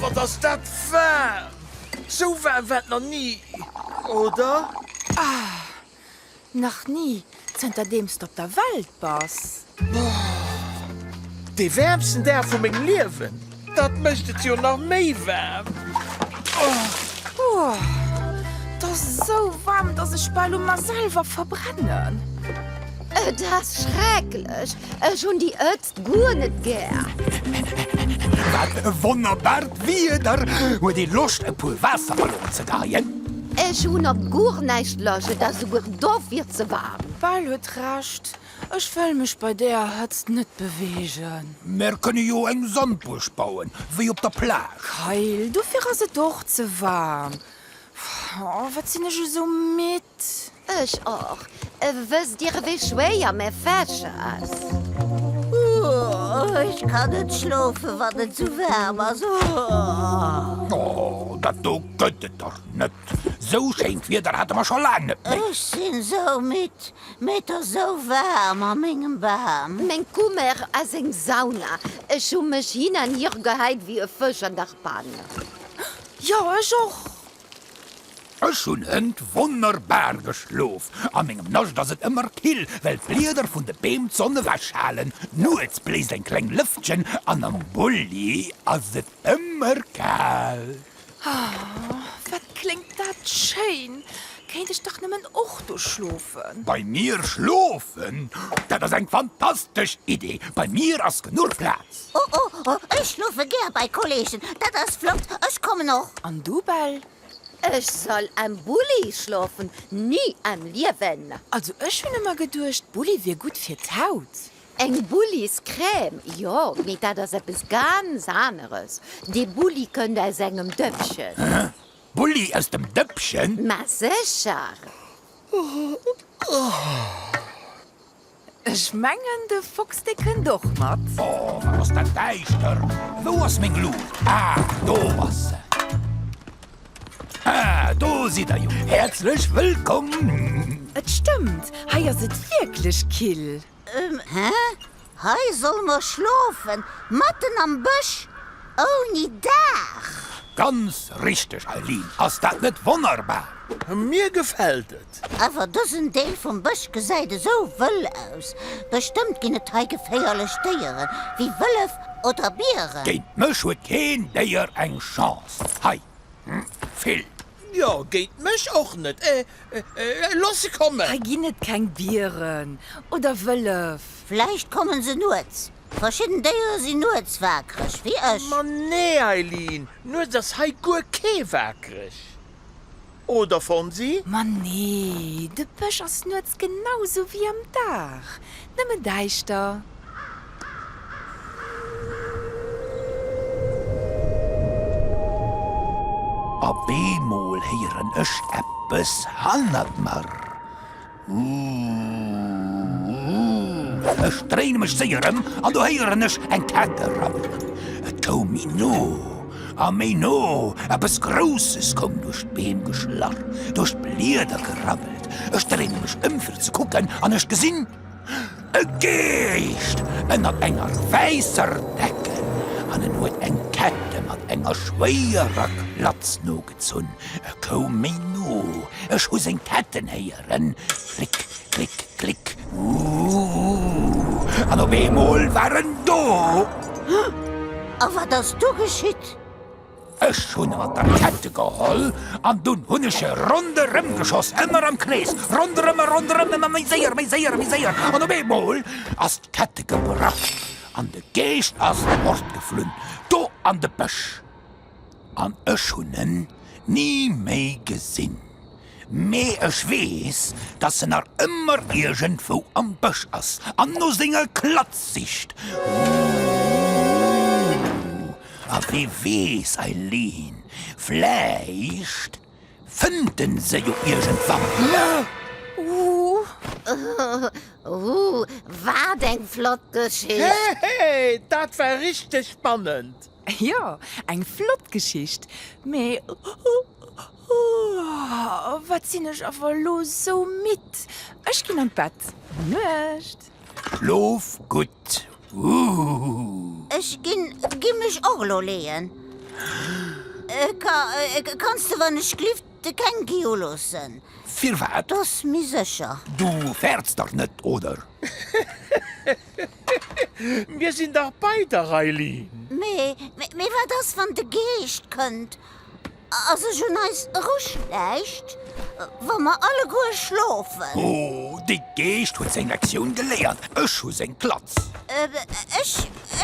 Wat ass dat waarm! Sou waarm war et nach ni, oder? Nach ni, zënterdeems de op der Welt bass. Dee wäermsten Dag vu mengem Liewen! Dat mécht et jo nach méi waarm. Et ass esou waarm, dass ech bal u mer selwer verbrennen. Et ass schrecklech! Ech hunn déi Hëtzt guer net gär! Wat e wonnerbart Wieder! Huet ee Loscht, e puer Waasserballone ze geien? Ech hunn op guer näischt Loscht, et ass souguer dofir ze waarm. D'Bal huet Recht. Ech wëll mech bei deeër Hëtzt net beweegen. Mär kënne jo eng Sandbuerg bauen, wéi op der Plage. Kayl, Dofir ass et och ze waarm. Oh, wat sinn ech esou midd. Ech och. Wësst Dir, ewéi schwéier mä Fächer ass. Oh, ech kann net schlofen, wann et esou waarm ass. Oh. Oh, dat do gëtt et dach net. Esou schéint Wieder hate mer scho laang net méi. Ech sinn esou midd. Mee et ass esou waarm a mengem Bam. Meng Kummer ass eng Sauna. Ech hu mech hin an hier gehäit wéi e Fësch an der Pann. Jo, ech och. Ech hunn hënt wonnerbar geschlof. A mengem Nascht ass et ëmmer kill, well d'Blieder vun de Beem d'Sonn ewechhalen. Nuets bléist eng kleng Lëftchen an am Bulli ass et ëmmer kal. Wat kléngt dat schéin! Kéint ech dach nëmmen och do schlofen! Bei mir schlofen? Dat ass eng fantastesch Idee! Bei mir ass genuch Plaz! Oh oh oh, ech schlofe gär bei Kolleegen! Dat ass flott, ech kommen och! An du, Bell? Ech soll am Bulli schlofen? Ni am Liewen! Also ech hunn ëmmer geduecht, Bulli wier gutt fir d'Haut. Eng Bulliscrème? Jo, mee dat ass eppes ganz aneres. Dee Bulli kënnt aus engem Dëppchen. Hä? Bulli aus dem Dëppchen? Ma sécher! Ech mengen, de Fox, dee kënnt och mat. Oh, wat ass dat däischter! Wou ass meng Luucht? Ah, do ass se. Ah, do sidd der jo. Häerzlech wëllkomm! Et stëmmt, hei ass et wierklech kill. Hä? Hei solle mer schlofen? Matten am Bësch? Ouni Daach? Ganz richteg, Eileen. Ass dat net wonnerbar? Mir gefält et! Awer dësen Deel vum Bësch gesäit esou wëll aus. Bestëmmt ginn et hei geféierlech Déieren, wéi Wëllef oder Bieren. Géint mech huet keen Déier eng Chance hei. Vill. Jo, géint mech och net. Looss se kommen. Hei ginn et keng Dieren oder Wëllef. Vläicht kommen se nuets. Verschidden Déiere sinn nuets waakreg, wéi ech. Ma nee, Eileen, nuets ass hei guer kee waakreg, oder Fonsi? Ma nee, de Bësch ass nuets genau sou wéi am Dag. Nëmmen däischter. A beemol héieren ech eppes hannert mer. Uuhh. Ech dréine mech séier ëm an do héieren ech eng Kette rabbelen. Et koum méi no. A méi no, eppes Grousses koum duerch d'Beem geschlarr, duerch d'Blieder gerabbelt. Ech dréine mech ëm fir ze kucken an ech gesinn, e Geescht ënnert enger wäisser Decken an en huet eng Kette mat enger schwéierer Klatz nogezunn. E koum méi no, ech hu seng Ketten héieren. Ren, Klick, klick, klick, uuhh, an op eemol war en do! A wat ass du geschitt? Ech hunn mat der Kette geholl an dunn hunn ech e ronderëm geschoss, ëmmer am Krees, ronderëm a ronderëm, ëmmer méi séier, méi séier, méi séier, an op eemol ass d'Kette gebrach an de Geescht ass fortgeflunn, do an de Bësch. An ech hunn en ni méi gesinn. Mee ech weess, dass en nach ëmmer iergendwou am Bësch ass an no senger Klatz sicht. Ooh! A wie weess, Eileen, vläicht fënnt e se jo iergendwann. Ooh! Ooh! Wat eng flott Geschicht! Hehe! Dat war richteg spannend! Jo, eng flott Geschicht, mee ooh, wat sinn ech awer elo sou midd. Ech ginn an d'Bett. Gutt Nuecht. Schlof gutt. Ooh. Ech ginn mech och elo leeën. Ka, kanns de wann ech glift de Keng Geo loossen? Firwat? Dass mi sécher. Du fäerts dach net, oder? Mir sinn dach bei der Raylene! Mee, mee wat ass wann de Geescht kënnt a sech un eis eruschläicht, wa mer alleguer schlofen? Ohh, de Geescht huet seng Lektioun geléiert, ech hu seng Klatz! Ech,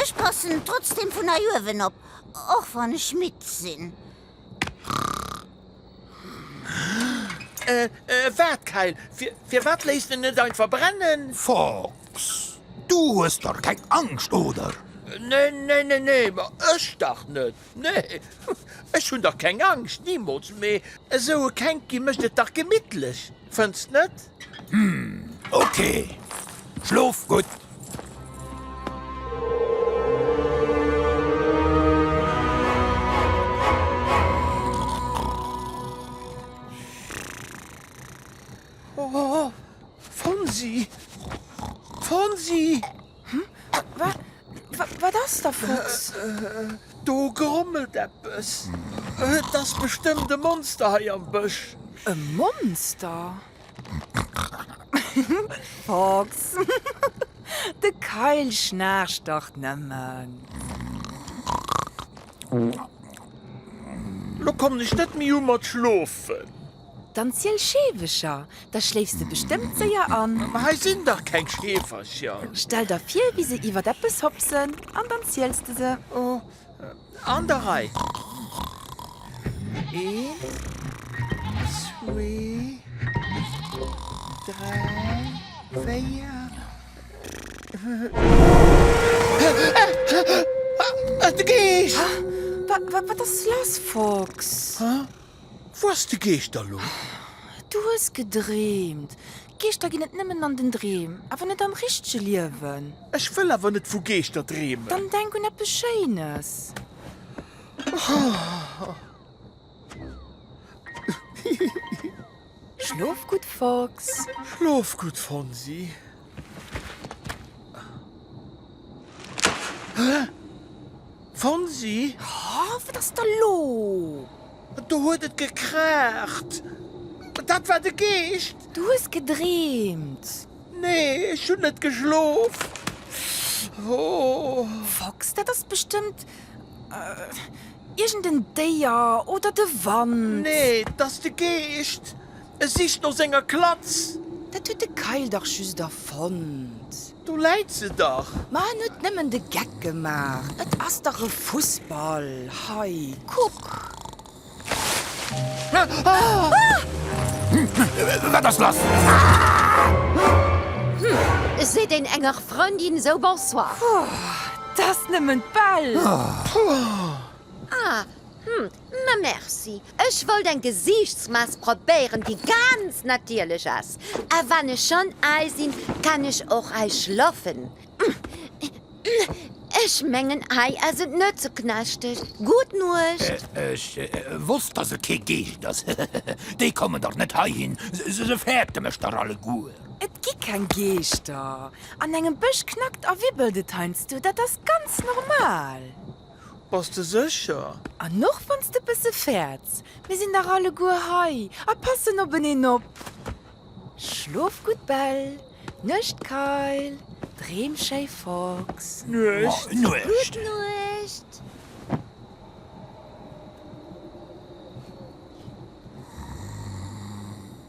ech passen trotzdem vun hei uewen op, och wann ech midd sinn. Äh, äh, waart, Kayl, fir, firwat léisst de en net einfach brennen? Fox, du hues dach keng Angscht, oder? Nee, nee, nee, nee, ma ech dach net, nee. Ech hunn dach keng Angscht, nimools, mee esou e Kenki mécht et dach gemittlech. Fënns net? Hm, ok. Schlof gutt. Wat ass da, Fuchs? Do grommelt eppes. Et ass bestëmmt e Monster hei am Bësch. E Monster? Fuchs, de Kayl schnaarcht dach nëmmen. Lo kommen ech net méi u mat schlofen. Dann ziel Scheewecher, da schléifs de bestëmmt séier an. Ma hei sinn dach keng Scheefercher! Stell der vir, wéi se iwwert eppes hopsen, an dann ziels de se. Oh, an der Rei. Een, zwee, dräi, véier. Ah, et geescht! Wat ass lass, Fox? Wou ass de Geeschter lo? Du hues gedreemt. Geeschter ginn et nëmmen an den Dreem, awer net am richtege Liewen. Ech wëll awer net vu Geeschter dreemen. Dann denk un eppes Schéines. Hihi. Schlof gutt, Fox! Schlof gutt, Fonsi! Fonsi! Oh, wat ass da lo? Do huet et gekraacht! Dat war de Geescht! Du hues gedreemt! Nee, ech hunn net geschlof! Oh! Fox, dat ass bestëmmt. Iergend en Déier oder de Wand? Nee, 't ass de Geescht, e sicht no senger Klatz. Dat huet de Keil dach just erfonnt. Do läit se dach. Ma en huet nëmmen de Geck gemaach, et ass dach e Fussball. Hei, kuck. Wat ass lass? Seet een enger Frëndin esou Bonsoir. T'ass nëmmen d'Bell! Ah, hm, mä merci. Ech wollt eng Gesiichtsmask probéieren, déi ganz natierlech ass. A wann ech schonn ei sinn, kann ech och ei schlaffen. Ech mengen, ei ass et net ze knaschteg. Gutt Nuecht! Ech wosst, dass et kee Geescht ass. Déi kommen dach net heihin, se fäerten mech dach alleguer. Et gi keng Geeschter. An engem Bësch knackt a wibbelt et heiansdo, dat ass ganz normal. Bass de sécher? An och wann s de e bësse fäerts, mir sinn dach alleguer hei a passen openeen op. Schlof gutt, Bell. Nuecht, Kyle. Dreem schéi, Fox. Nuecht. Nuecht.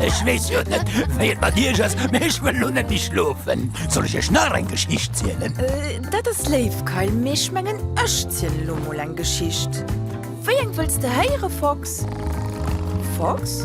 Ech wees jo net wéi et mat Iech ass, mee ech wëll lo net méi schlofen. Soll ech Iech nach eng Geschicht zielen? Äh, dat ass léif, Kayl, mee ech mengen, ech zielen lo mol eng Geschicht. Wéi eng wëlls de héieren, Fox? Fox?